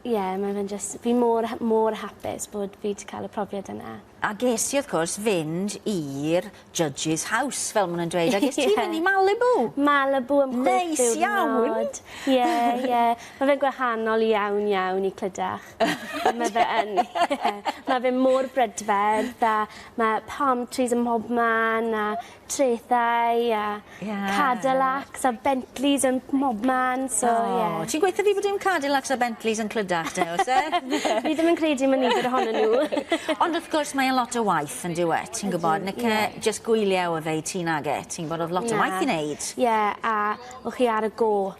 Ie, mae fe'n jyst... Fi mor ha- mor hapus bod fi 'di cael y profiad yna. A ges ti, wrth cwrs, fynd i'r judge's house, fel ma' nw'n dweud. Ie. A ges ti mynd i Malibu! Malibu am chwech diwrnod. Neis iawn! Ie, ie. Ma' fe'n gwahanol iawn, iawn i Clydach. Ond ma' fe yn. Ie. Ma' fe mor brydferth a ma' palm trees ym mhobman a traethau a... Ie. ...Cadillacs a Bentleys yn mobman so ie. O ti'n gweu' 'tho fi bo' dim Cadillacs a Bentleys yn Clydach te o's e? Ni ddim yn credu ma' nifer ohonyn n'w. Ond wrth gwrs mae e'n lot o waith yndyw e ti'n gwbod ni cy jyst gwylio o fe i ti nage ti'n gwbod o'dd lot o waith i neud. Ie a o' chi ar y go'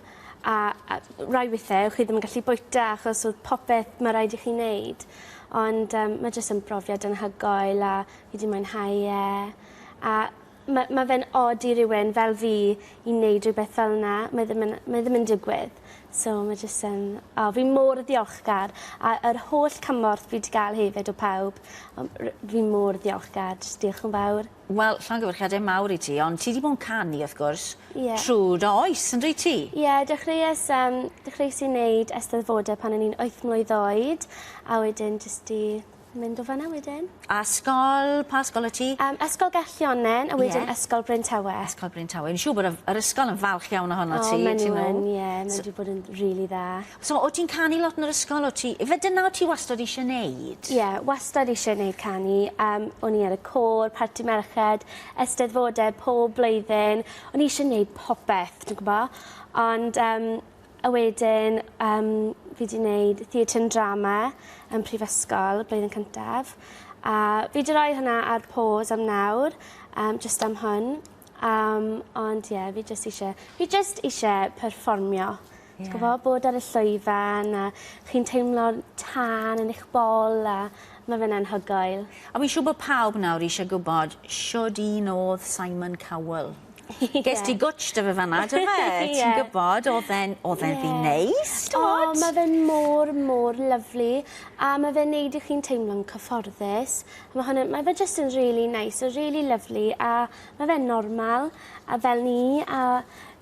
a a rai withe o' chi ddim yn gallu bwyta achos o'dd popeth ma' raid i chi neud ond yym ma' jyst yn brofiad anhygoel a fi 'di mwynhau e. a ma' ma' fe'n od i rywun fel fi i neud rwbeth fel 'na mae ddim yn mae ddim yn digwydd so ma' jyst yn o fi mor ddiolchgar a yr holl cymorth fi 'di ga'l hefyd o pawb yym r- fi mor ddiolchgar jys diolch yn fawr. Wel llongyfarchiade mawr i ti ond ti 'di bo' 'n canu wrth gwrs... Ie. ...trw dy oes on'd wyt ti? Ie dechreues yym dechreues i neud Eisteddfode pan o'n i'n wyth mlwydd oed a wedyn jyst 'di Mynd o fanna wedyn. Ysgol, pa ysgol wyt ti? Um, ysgol Gellionnen, a wedyn yeah. Ysgol Bryn Tawe. Ysgol Bryn Tawe. Yn siŵr bod yr ysgol yn falch iawn ohono oh, ti. O, maen nhw yn, ie. Yeah, maen nhw bod yn rili really dda. So, o ti'n canu lot yn yr ysgol, o ti... Fe dyna o ti wastad eisiau neud? Ie, yeah, wastad eisiau neud canu. Um, o'n i ar y côr, parti merched, ysteddfodau pob blwyddyn. O'n i eisiau neud popeth, ti'n gwybod? Ond um, A wedyn yym fi 'di neud Theatr and Drama yn prifysgol blwyddyn cyntaf a fi 'di roi hwnna ar pause am nawr yym jyst am hwn yym ond ie fi jyst isie fi jyst isie perfformio. Ie. Ti gwbo bod ar y llwyfan a chi'n teimlo'r tân yn eich bol a ma' fe'n anhygoel. A fi'n siŵr bo' pawb nawr isie gwbod shwd un odd Simon Cowell. Ie. Ges ti gwtsh 'dy fe fan 'na do fe? Ie. Ti'n gwbod o'dd e'n o'dd e'n ddyn neis t'mod? O ma' fe'n mor mor lyfli a ma' fe'n neud i chi'n teimlo'n cyfforddus a ma' hwnna ma' fe jyst yn rili neis a rili lyfli a ma' fe'n normal a fel ni a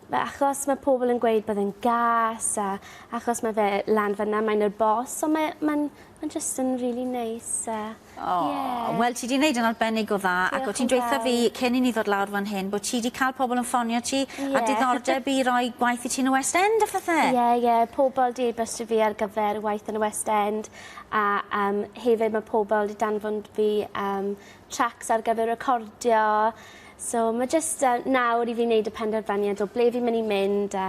ma' achos ma' pobol yn gweud bod e'n gas a achos ma' fe lan fyn 'na mae'n neud bos on' mae ma'n ma'n jyst yn rili neis a O, yeah. wel ti di wneud yn arbennig o dda Diolch ac o ti'n dweitha fi cyn i ni ddod lawr fan hyn bod ti di cael pobl yn ffonio ti yeah. a diddordeb i roi gwaith i ti yn y West End a phethe. Ie, yeah, ie, yeah. pobl di bystio fi ar gyfer waith yn y West End a um, hefyd mae pobl di danfon fi um, tracks ar gyfer recordio. So mae jyst uh, nawr i fi wneud y penderfyniad o ble fi'n mynd i mynd a